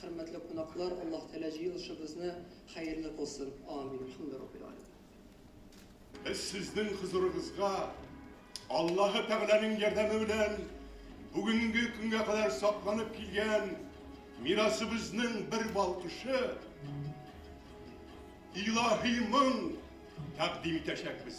Хөрмәтле кунаклар, Аллаһ Тәгалә җыелышыбызны хәерле кылсын! Амин! Әлхәмдүраббил-Галәмин! Без сезнең хозурыгызга Аллаһы Тәгаләнең ярдәме белән бүгенге көнгә кадәр сакланып килгән мирасыбызның бер балкышы, илаһи моң тәкъдим итәчәкбез.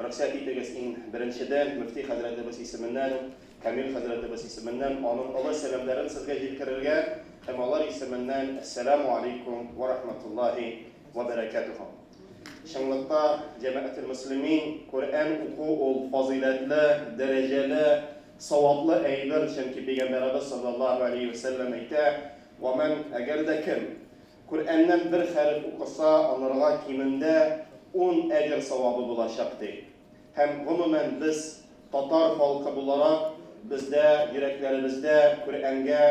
Рөхсәт итегез, иң беренчедән, мөфти хәзрәтебез исеменнән, Камил хәзрәтебез исеменнән аның олы сәламнәрен сезгә җилкерергә һәм алар исеменнән Әссәламү алейкүм вә рахматуллаһи вә бәрәкәтүһү. Чынлыкта, җәмәгател-мөслимин, Коръән уку ул, фазыйләтле, дәрәҗәле, саваплы әйбер, чөнки Пәйгамбәребез салләллаһу алейһи вә сәлләм әйтә, Вә мән, әгәр дә кем, Коръәннән бер хәреф укыса, анырга кимендә ун әҗер савабы булачак, ди. Һәм, гомумән, без, татар халкы буларак, бездә, йөрәкләребездә Коръәнгә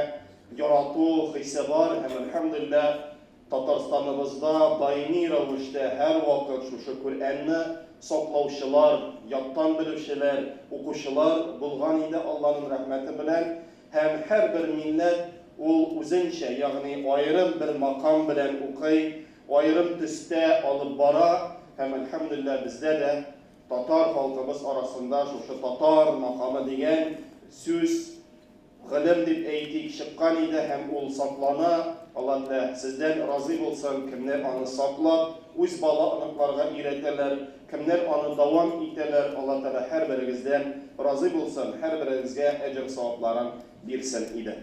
ярату хисе бар һәм, әлхәмдүлилләһ, Татарстаныбызда даими рәвештә һәрвакыт шушы Коръәнне саклаучылар, яттан белүчеләр, укучылар булган иде, Алланың рәхмәте белән. Һәм һәрбер милләт ул үзенчә, ягъни аерым бер макам белән укый, аерым төстә алып бара һәм, әлхәмдүлилләһ, бездә дә, татар халкыбыз арасында шушы татар макамы дигән сүз, гылем дип әйтик, чыккан иде һәм ул саклана, Алла телә, сездән разый булсын, кемнәр аны саклап, үз бала-оныкларга өйрәтәләр, Кемнәр аны дәвам итәләр, Алла Тәгалә һәрберегездән разый булсын, һәрберегезгә әҗер-савапларын бирсен иде.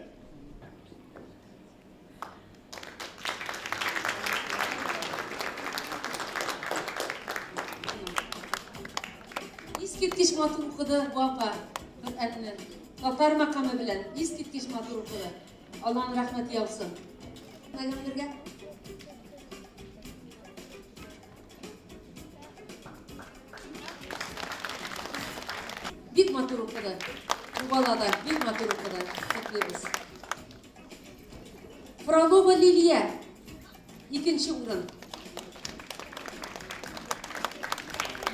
Искиткеч матур укыды бу апа Коръәнне. Татар макамы белән искиткеч матур укыды. Алланың рәхмәте яусын. Пәйгамбергә Бик матур укыды. Бу бала да бик матур укыды. Котлыйбыз. Фролова Лилия. Икенче урын.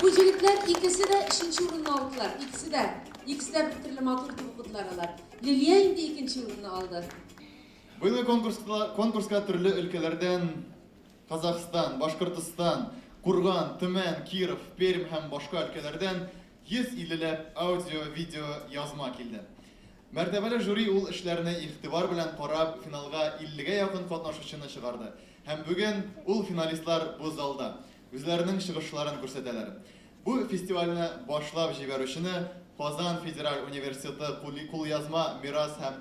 Бу җегетләр икесе дә өченче урынны алдылар. Икесе дә. Икесе дә бер төрле матур итеп укыдылар алар. Лилия инде икенче урынны алды. Быелгы конкурска, конкурска төрле өлкәләрдән Казахстан, Башкортостан, Курган, Төмән, Киров, Пермь һәм башка өлкәләрдән 150 ләп аудио, видео, язма килде. Мәртәбәле жюри ул эшләрне игътибар белән карап, финалга 50 гә якын катнашучыны чыгарды. Һәм бүген ул финалистлар бу залда, үзләренең чыгышларын күрсәтәләр. Бу фестивальне башлап җибәрүчене Казан федераль университеты кулъязма мирас һәм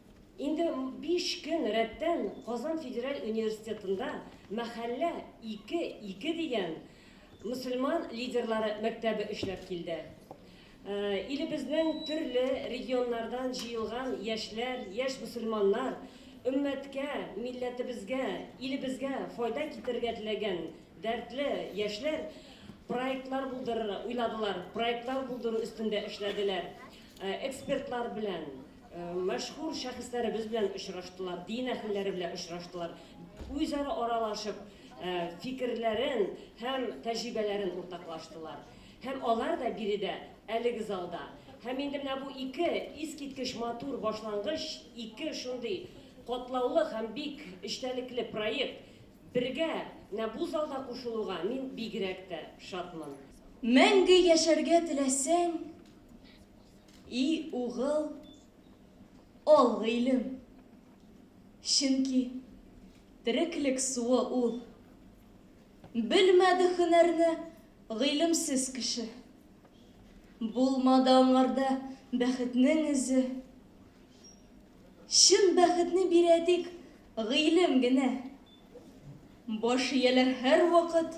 Инде биш көн рәттән Казан федераль университетында Мәхәллә ике, ике дигән мөселман лидерлары мәктәбе эшләп килде. Илебезнең төрле регионнардан җыелган яшьләр, яшь мөселманнар өммәткә, милләтебезгә, илебезгә файда китерергә теләгән дәртле яшьләр проектлар булдырырга уйладылар, проектлар булдыру өстендә эшләделәр. Экспертлар белән, мәшһүр шәхесләребез белән очраштылар, дин әһелләре белән очраштылар. Үзара аралашып, фикерләрен һәм тәҗрибәләрен уртаклаштылар. Һәм алар да биредә, әлеге залда. Һәм инде менә бу ике искиткеч матур башлангыч, ике шундый катлаулы һәм бик эчтәлекле проект бергә менә бу залда кушылуга мин бигрәк тә шатмын. Мәңге яшәргә теләсәң, И угыл, ал гыйлем, чөнки тереклек суы ул. Белмәде һөнәрне гыйлемсез кеше. Булмады аңарда бәхетнең эзе. Чын бәхетне бирә тик гыйлем генә. Баш ияләр һәрвакыт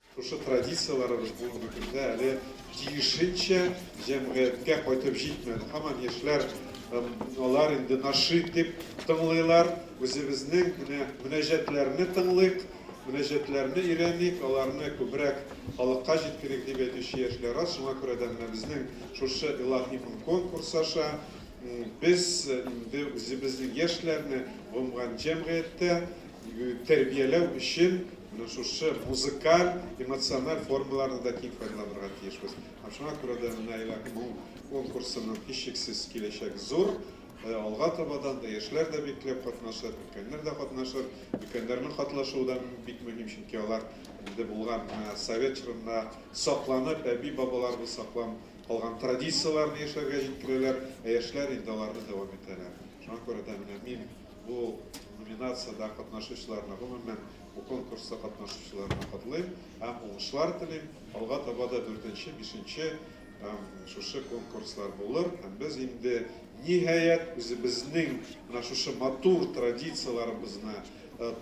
Шушы традицияләребез бүгенге көндә әле тиешенчә җәмгыятькә кайтып җитмәде. Һаман яшьләр алар инде нашид дип тыңлыйлар. Үзебезнең менә мөнәҗәтләрне тыңлыйк, мөнәҗәтләрне өйрәник, аларны күбрәк халыкка җиткерик, дип әйтүче яшьләр аз. Шуңа күрә дә менә безнең шушы Илаһи моң конкурсы аша без инде үзебезнең яшьләрне гомган җәмгыятьтә тәрбияләү өчен менә шушы музыкаль, эмоциональ формаларны да киң файдаланырга тиешбез. Һәм шуңа күрә дә менә Айлак моң конкурсының һичшиксез киләчәк зур. Э, алга табадан да яшьләр дә бикләп катнашыр, өлкәннәр дә катнашыр. Өлкәннәрнең катнашуы да бик мөһим, чөнки алар инде булган э, совет чорында сакланып, әби-бабаларыбыз саклап калган традицияләрне яшьләргә җиткерәләр, ә яшьләр инде аларны дәвам итәләр. Шуңа күрә дә менә мин Бу номинациядә катнашучыларны, гомумән, бу конкурста катнашучыларны котлыйм һәм уңышлар телим. Алга таба да дүртенче, бишенче һәм шушы конкурслар булыр һәм без инде, ниһаять, үзебезнең менә шушы матур традицияләребезне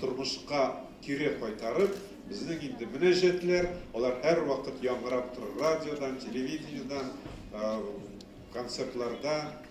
тормышка кире кайтарып, безнең инде мөнәҗәтләр, алар һәрвакыт яңгырап торыр радиодан, телевидениедән, концертларда.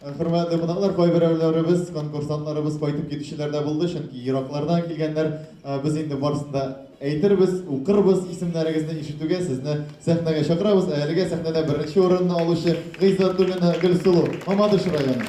Хөрмәтле кунаклар, кайберәүләребез, конкурсантларыбыз кайтып китүчеләр дә булды, чөнки ераклардан килгәннәр. Без инде барысын да әйтербез, укырбыз, исемнәрегезне ишетүгә сезне сәхнәгә чакырабыз. Ә әлегә сәхнәдә беренче урынны алучы Гыйззәтуллина Гөлсылу, Мамадыш районы.